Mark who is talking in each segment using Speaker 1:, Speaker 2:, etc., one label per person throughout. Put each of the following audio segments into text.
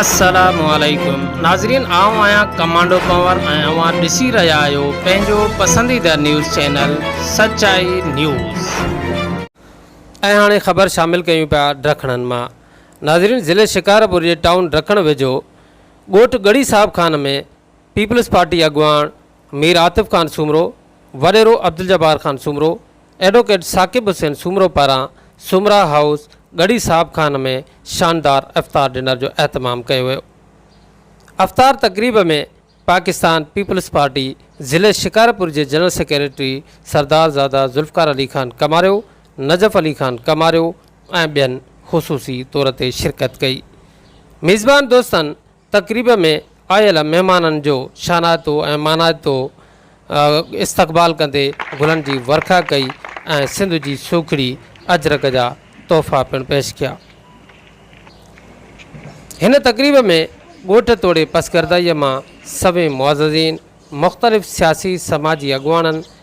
Speaker 1: السلام عليڪم ناظرين آئون آهيان ڪمانڊو ڪنور ۽ اوهان ڏسي رهيا آهيو پنهنجو پسنديده نيوز چينل سچائي نيوز. ۽ هاڻي خبر شامل ڪيون پيا ڊکڻن مان ناظرين ضلعي شڪارپور جي ٽائون ڊکڻ ويجهو ڳوٺ ڳڙهي صاحب خان ۾ پيپلز پارٽي اڳواڻ مير عاطف خان سومرو، وڏيرو عبدالجبار خان سومرو، ايڊووڪيٽ ثاقب حسين سومرو پاران سومرا هائوس ڳڙهي صاحب خان ۾ شاندار افطار ڊنر جو اهتمام ڪيو ويو. افطار تقريب ۾ پاڪستان پيپلز پارٽي ضلعي شڪارپور جي جنرل سيڪريٽري سردارزاده ذوالفقار علي خان ڪماريو، نجف علي خان ڪماريو ۽ ٻين خصوصي طور تي شرڪت ڪئي. ميزبان دوستن تقريب ۾ آيل مهمانن جو شانائتو ۽ مانائتو استقبال ڪندي گلن جي ورکا ڪئي ۽ سنڌ جي سوکڙي اجرڪ جا تحفا پڻ پيش ڪيا. هن تقريب ۾ ڳوٺ توڙي پسگردائيء مان سوين معززين، مختلف سياسي سماجي اڳواڻن،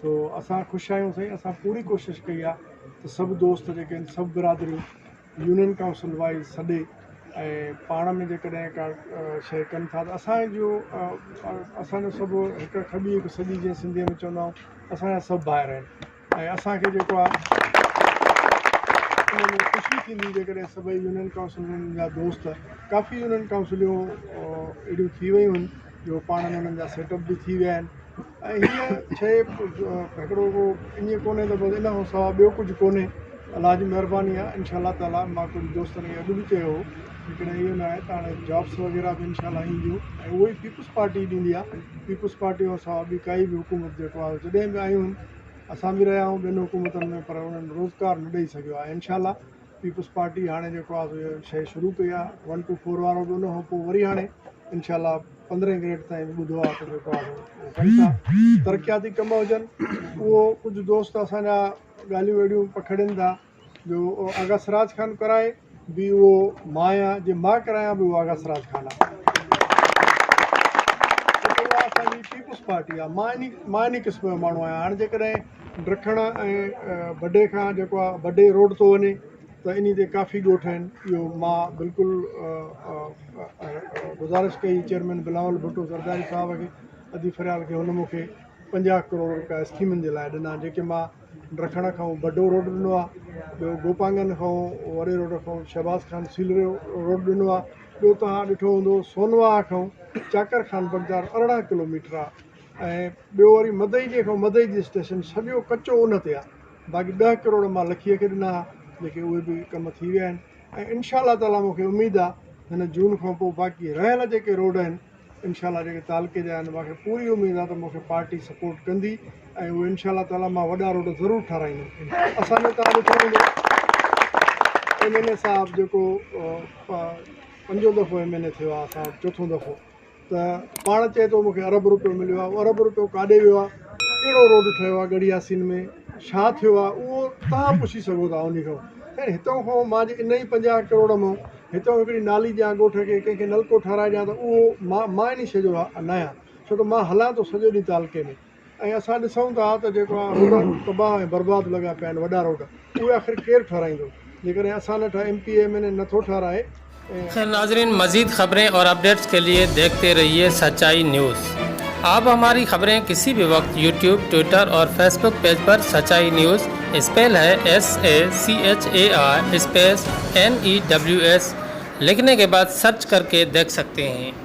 Speaker 2: سو اسان خوش آهيون سائين اسان پوري ڪوشش ڪئي آهي ته سڀ دوست جيڪي آهن سڀ برادريون يونين ڪائونسل وائز سڏي ۽ پاڻ ۾ جيڪڏهن ڪا شيء ڪن ٿا ته اسانجو اسانجو سڀ هڪ کٻي هڪ سڄي جيئن سنڌيء ۾ چوندا آهيون اسانجا سڀ ڀائر آهن ۽ اسانکي جيڪو آهي ان ۾ خوشي ٿيندي جيڪڏهن سڀئي يونين ڪائونسلن جا دوست ڪافي يونين ڪائونسليون اهڙيون ٿي ويون آهن جو پاڻ ۾ انهن جا سيٽ اپ به ٿي ويا آهن ۽ هيء شيء هڪڙو ڪو ائين ڪونهي ته بس ان کان سواء ٻيو ڪجهه ڪونهي الله جي مهرباني آهي ان شاء الله تعاليٰ مان ڪجهه دوستن کي اڳ به چيو هو ليڪن اهو ناهي ته هاڻي جابس وغيره به ان شاء الله اينديون ۽ اهو ئي پيپلز پارٽي ڏيندي آهي پيپلز پارٽي کان سواء ٻي ڪائي به حڪومت جيڪو آهي جڏهن به آيون اسان به رهيا آهيون ٻين حڪومتن ۾ پر انهن روزگار نه ڏئي سگهيو آهي ان شاء الله پيپلز پارٽي هاڻي جيڪو آ سو شيء شروع ڪئي آ ون ٽو فور وارو به ان کان پو وري هاڻي انشاء الله پندرهين گريڊ تائين به ٻڌو آ ته جيڪو آ سو ڪن ٿا ترقياتي ڪم هجن اهو ڪجهه دوست اسان جا ڳالهيون ويڙهيون پکڙين ٿا جو آغا سراج خان ڪرائي به اهو مان آهيان جي مان ڪرايان به اهو آغا سراج خان آ اسان جي پيپلز پارٽي آ مان اني مان اني قسم جو ماڻهو آهيان هاڻي جيڪڏهن ڊرکڙ ۽ بڊي کان جيڪو آ بڊي روڊ ٿو وڃي ته انهي تي ڪافي ڳوٺ آهن اهو مان بلڪل گذارش ڪئي چيئرمين بلاول ڀٽو زرداري صاحب کي ادي فريال کي هن مونکي پنجاهه ڪروڙ روپيا اسڪيمن جي لاء ڏنا جيڪي مان ڊرکڙ کان بڊو روڊ ڏنو آهي ٻيو گوپانگن کان وڏي روڊ کان شهباز خان سيلري روڊ ڏنو آهي ٻيو توهان ڏٺو هوندو سونوا کان چاڪر خان بغداد ارڙهن ڪلوميٽر آهي ۽ ٻيو وري مدئي جنهن کان مدئي جي اسٽيشن سڄو ڪچو ان تي آ باقي ڏهه ڪروڙ مان لکيء کي ڏنا ها جيڪي اهي به ڪم ٿي ويا آهن ۽ انشاء الله تعالي مون کي اميد آ هن جون کان پوء باقي رهيل جيڪي روڊ آهن انشاء الله جيڪي تعلقي جا آهن مون کي پوري اميد آ ته مون کي پارٽي سپورٽ ڪندي ۽ اهي انشاء الله تعالي مان وڏا روڊ ضرور ٺاراهيندم اسان جو تان ڏٺو هوندو ايم اين اي صاحب جيڪو پنجون دفعو ايم اين اي ٿيو آ اسان وٽ چوٿون دفعو ته پاڻ چئي ٿو مون کي ارب روپيو مليو آهي، اهو ارب روپيو ڪاڏي ويو آهي، ڪهڙو روڊ ٺهيو آهي ڳڙهي ياسين ۾، ڇا ٿيو آهي، اهو توهان پڇي سگهو ٿا انهي کان. خير هتان کان مان جي انهي پنجاهه ڪروڙ مان هتان هڪڙي نالي ڏيان ڳوٺ کي، ڪنهن کي نلڪو ٺهرائي ڏيان ته اهو مان انهي شيء جو نه آهيان، ڇو ته مان هلان ٿو سڄو ڏينهن تعلقي ۾. ۽ اسان ڏسون ٿا ته جيڪا روڊ تباهه ۽ برباد لڳا پيا آهن وڏا روڊ اهي آخر ڪير ٺهرائيندو جيڪڏهن اسان نه ٺاهي M P A M N A نٿو ٺهرائي. خير ناظرين
Speaker 1: مزيد خبرين اور اپڈيٽس کے لئے ديکھتے رھيئي سچائي نيوز آپ ھماري خبرين کسي بھي وقت يوٽيوب ٽوئيٽر اور فيس بوڪ پيج پر سچائي نيوز اسپيل ھي S A C H A I space N E W S لکھني کے بعد سرچ کر کے ديکھ سکتے ھين۔